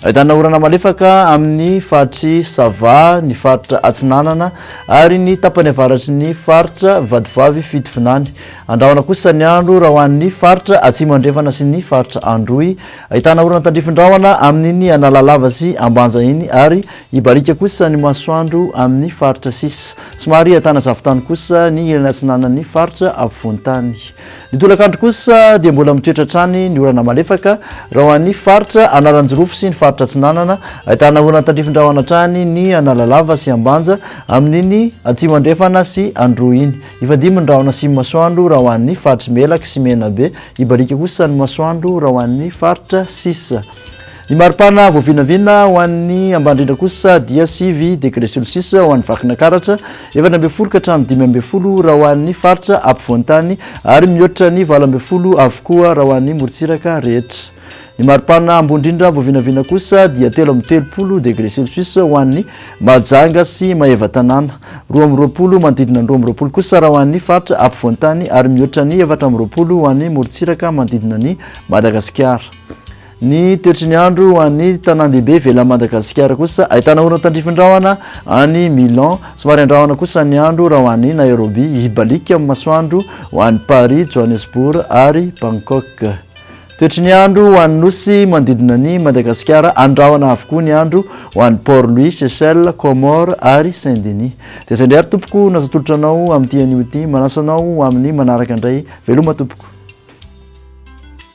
Ahitana orana malefaka amin'ny faritr'i Sava, ny faritra Atsinanana ary ny tapany avaratry ny faritra Vatovavy Fitovinany. Andrahona kosa ny andro raha ho an'ny faritra Atsimo Andrefana sy ny faritra Androy. Ahitana orana tandrifin-drahona amin'iny Analalava sy Ambanja iny ary hibaliaka kosa ny masoandro amin'ny faritra sisa. Somary ahitana zavon-tany kosa ny ilany atsinanan'ny faritra afovoan-tany. Ny tolakandro kosa dia mbola mitoetra hatrany ny orana malefaka raha ho an'ny faritra Analanjirofo sy ny faritra Atsinanana, ahitana orana tandrifin-drahona hatrany ny Analalava sy Ambanja amin'iny Atsimo Andrefana sy Androy iny. Hifandimby ny rahona sy masoandro raha ho an'ny faritr'i Melaky sy Menabe, hibarika kosa ny masoandro raha ho an'ny faritra sisa. Ny maripana voavinavina ho an'ny Ambandrindra kosa dia sivy degre celsius ho an'ny Vakinankaratra, efatra ambin'ny folo ka hatramin'ny dimy ambin'ny folo raha ho an'ny faritra ampovoan-tany ary mihoatra ny valo ambin'ny folo avokoa raha ho an'ny morontsiraka rehetra. Ny maripana ambondrindra voavinavina kosa dia telo amby telopolo degre celsius ho an'ny Mahajanga sy Maevatanàna, roa amby roapolo manodidina ny roa amby roapolo kosa raha ho an'ny faritra ampovoan-tany ary mihoatra ny efatra amby roapolo ho an'ny morontsiraka manodidina an'i Madagasikara. Ny toetry ny andro ho an'ny tanàn-dehibe ivelan'i Madagasikara kosa ahitana orana tandrifin-drahona any Milan, somary an-drahona kosa ny andro raha ho any Nairobi, hibaliaka amin'ny masoandro ho any Paris, Johannesburg ary Bangkok. Toetry ny andro ho an'ny nosy manodidina an'i Madagasikara, an-drahona avokoa ny andro ho any Port Louis, Seychelles, Comores ary Saint Denis. Dia izay indray ary tompoko no azo atolotra anao amin'ity anio ity, manasa anao amin'ny manaraka indray, veloma tompoko.